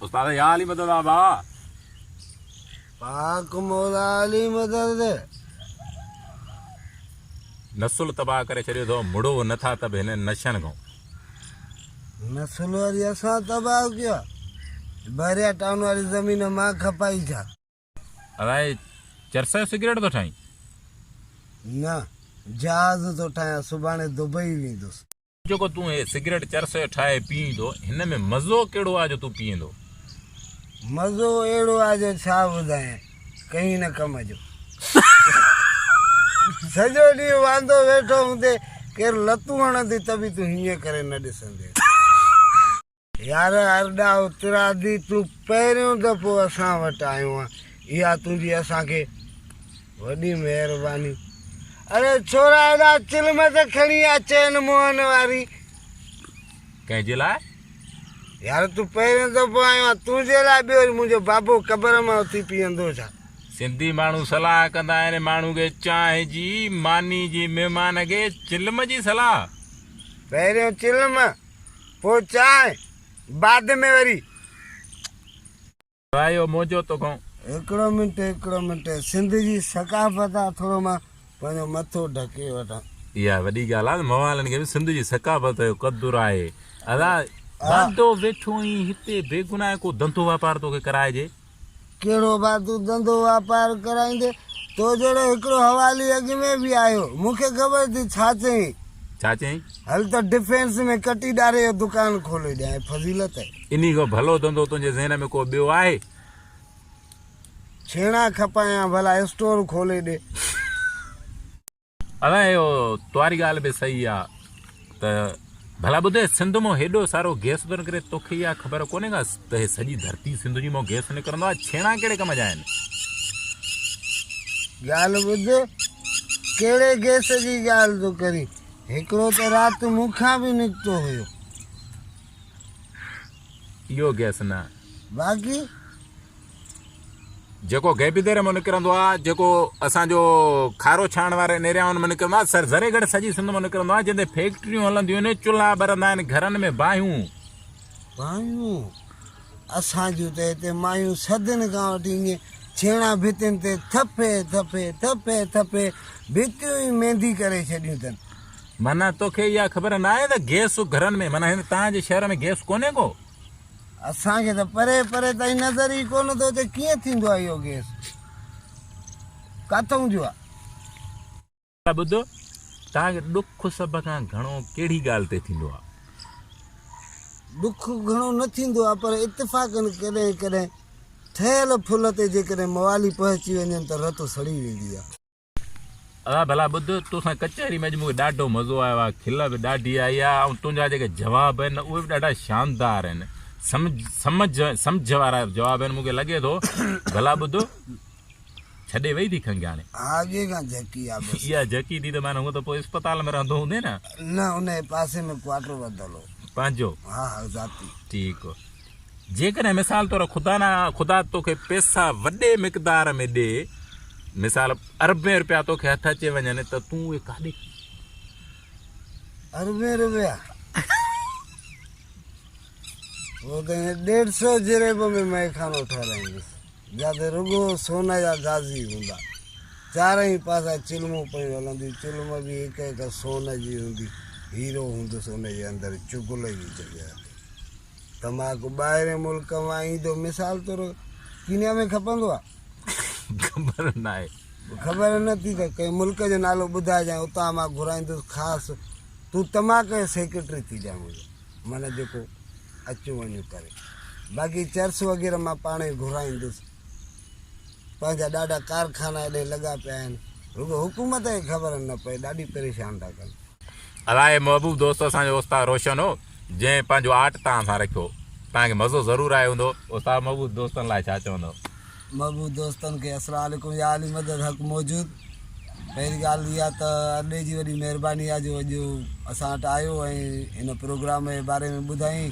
استاد يا علي مدد آبا پاڪ مولا علي مدد نسل تباہ ڪري ڇڏيو اٿو مڙو نه ٿا تب هن نشن کان نسل وري اسان تباہ ڪيا باريا ٽاون واري زمين مان کپائي ڇا الاء چرس جو سگريٽ ٿو ٺاهين؟ نه، جهاز ٿو ٺاهيان، سڀاڻي دبئي ويندس. جيڪو تون هي سگريٽ چرس جو ٺاهي پيئين ٿو، هن ۾ مزو ڪهڙو آهي جو تون پيئين ٿو؟ مزو اهڙو آهي جو ڇا ٻڌايان، ڪنهين نه ڪم جو. سڄو ڏينهن واندو ويٺو هوندين، ڪير لتون هڻندين ته به تون هيئن ڪري نه ڏسندين. يار ارڏا اترادي تون پهريون دفعو اسان وٽ آيو آن اها تنهنجي اسان کي وڏي مهرباني. اڙي ڇورا هيڏا چلم ته کڻي آ چين موهن واري. ڪنهن جي لاء؟ يار تون پهريون دفعو آيو آن تنهنجي لاء ٻيو وري منهنجو بابو قبر مان اٿي پيئندو ڇا؟ سنڌي ماڻهو صلاح ڪندا آهن ماڻهو کي چانهه جي ماني جي مهمان کي چلم جي صلاح. پهريون چلم پوء چانهه بعد ۾ وري. ڀائيو منهنجو تو گهون. هڪڙو منٽ هڪڙو منٽ سنڌ جي ثقافت آ ٿورو مان پنهنجو مٿو ڍڪي وٺان. اها وڏي ڳالهه آ موالن کي به سنڌ جي ثقافت جو قدر آهي ادا. واندو ويٺو اهين هتي بيگناهه ڪو ڌنڌو واپار توکي ڪرائجي. ڪهڙو ڀاء تون ڌنڌو واپار ڪرائيندين؟ تو جهڙو هڪڙو حوالي اڳ ۾ به آيو، مون کي خبر اٿئي ڇا چوين؟ ڇا چوين؟ هل ته ڊفينس ۾ ڪٽي ڏاري جو دڪان کولي ڏيانء، فضيلت! انهي کان ڀلو ڌنڌو تنهنجي ذهن ۾ ڪو ٻيو آهي؟ ڇيڻا کپايان ڀلا اسٽور کولي ڏي. ادا اهو تواري ڳالهه به صحيح آ ته ڀلا ٻڌ سنڌ مون هيڏو سارو گيس ٿو نڪري توکي اها خبر ڪونهي ڪا ته هي سڄي ڌرتي سنڌ جي مون گيس نڪرندو آ ڇيڻا ڪهڙي ڪم جا آهن ڳالهه ٻڌ ڪهڙي گيس جي ڳالهه ٿو ڪرين هڪڙو ته رات مون کان به نڪتو هيو اهو گيس نه باقي جيڪو غيبي ديري مان نڪرندو آهي، جيڪو اسان جو کارو ڇاڻڻ واري نيريائن مان نڪرندو آهي، سر ذري گهڻي سڄي سنڌ مان نڪرندو آهي، جنهن تي فيڪٽريون هلنديون آهن، چلها ٻرندا آهن، گهرن ۾ باهيون. باهيون، اسان جون ته هتي مايون صدين کان وٺي ائين ڇيڻا ڀتين تي ٿڦي ٿڦي، ٿڦي ٿڦي ڀتيون ئي ميندي ڪري ڇڏيون اٿن. معنيٰ توکي اها خبر ناهي ته گئس گهرن ۾ معنيٰ هن تان جي شهر ۾ گئس ڪونهي ڪو؟ اسان کي ته پري پري تائين نظر ئي ڪونه ٿو اچي ڪيئن ٿيندو آهي اهو گيس ڪٿئون جو آهي. ٻڌو توهان کي ڏک سڀ کان گهڻو ڪهڙي ڳالهه تي ٿيندو آهي؟ ڏک گهڻو نه ٿيندو آهي پر اتفاقن ڪڏهن ڪڏهن ٺهيل ڦل تي جيڪڏهن موالي پهچي وڃن ته رت سڙي ويندي آهي. ادا ڀلا ٻڌ توسان ڪچهري ۾ اڄ مونکي ڏاڍو مزو آيو آ کل به ڏاڍي آئي آ ۽ تنهنجا جيڪي جواب آهن نه اهي به ڏاڍا شاندار آهن سمجھ سمجھ سمجھ وارا جواب آهن مونکي لڳي ٿو ڀلا ٻڌ ڇڏي وئي ٿي کنگياڻي ها اڳي کان جهڪي آ بس اها جهڪي ٿي ته معنی هو ته پوء اسپتال ۾ رهندو هوندي نه نه ان جي پاسي ۾ ڪوارٽر وڌل هو پنهنجو ها ها ذاتي ٺيڪ هو جيڪڏهن مثال طور خدا نه خدا توکي پيسا وڏي مقدار ۾ ڏي، مثال اربين روپيا توکي هٿ اچي وڃن ته تون اهي ڪاڏي کڻين؟ اربين روپيا وہ کي ڏيڍ سو جريب ۾ مئي خانو ٺهرائيندس جتي رڳو سون جا گازي هوندا چارئي پاسا چلمون پيون هلنديون چلم به هڪ هڪ سون جي هوندي هيرو هوندس ان جي اندر چگل جي جڳهه تي تماڪو ٻاهرين ملڪ مان ايندو مثال طور ڪينيا ۾ کپندو آ خبر ناهي خبر نه ٿي ته ڪنهن ملڪ جو نالو ٻڌائجان اتان مان گهرائيندس خاص تون تماڪي جو سيڪريٽري ٿي جا منهنجو من جيڪو اچو وڃو ڪري باقي چرس وغيره مان پاڻ ئي گهرائيندس پنهنجا ڏاڍا ڪارخانا ايڏي لڳا پيا آهن رڳو حڪومت کي خبر نه پئي ڏاڍي پريشان ٿا ڪن. الاء محبوب دوست اسان جو استاد روشن هو جنهن پنهنجو آرٽ توهان سان رکيو توهان کي مزو ضرور آيو هوندو. استاد محبوب دوستن لاء ڇا چوندؤ؟ محبوب دوستن کي السلام عليڪم يا علي مدد حق موجود پهرين ڳالهه اها ته اڏي جي وڏي مهرباني آهي جو اڄ اسان وٽ آيو ۽ هن پروگرام جي باري ۾ ٻڌائين.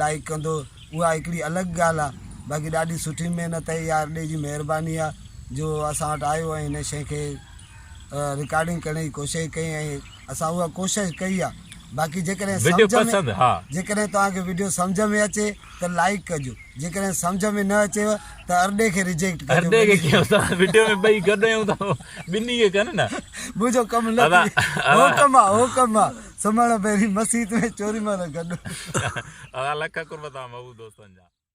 لائيڪ ڪندو اها هڪڙي الڳ ڳالهه آ باقي ڏاڍي سٺي محنت آهي اها ارڏي جي مهرباني آ جو اسان وٽ آيو ۽ هن شئي کي رڪارڊنگ ڪرڻ جي ڪوشش ڪئي ۽ اسان اها ڪوشش ڪئي آ باقي جيڪڏهن وڊيو سمجهه ۾ پسند ها جيڪڏهن توهان کي وڊيو سمجهه ۾ اچي ته لائيڪ ڪجو جيڪڏهن سمجهه ۾ نه اچيو ته ارڏي کي رجيڪٽ ڪجو ارڏي کي ڪيو ته وڊيو ۾ ٻئي گڏ آهيون ته ٻنهي کي ڪن نه منهنجو ڪم نه ادا- ٿي ادا- هو ڪم آ هو ڪم آ سمهڻ پهرين مسيت ۾ چوري مهل گڏ. ادا لک قرب توهان محبوب دوستن جا.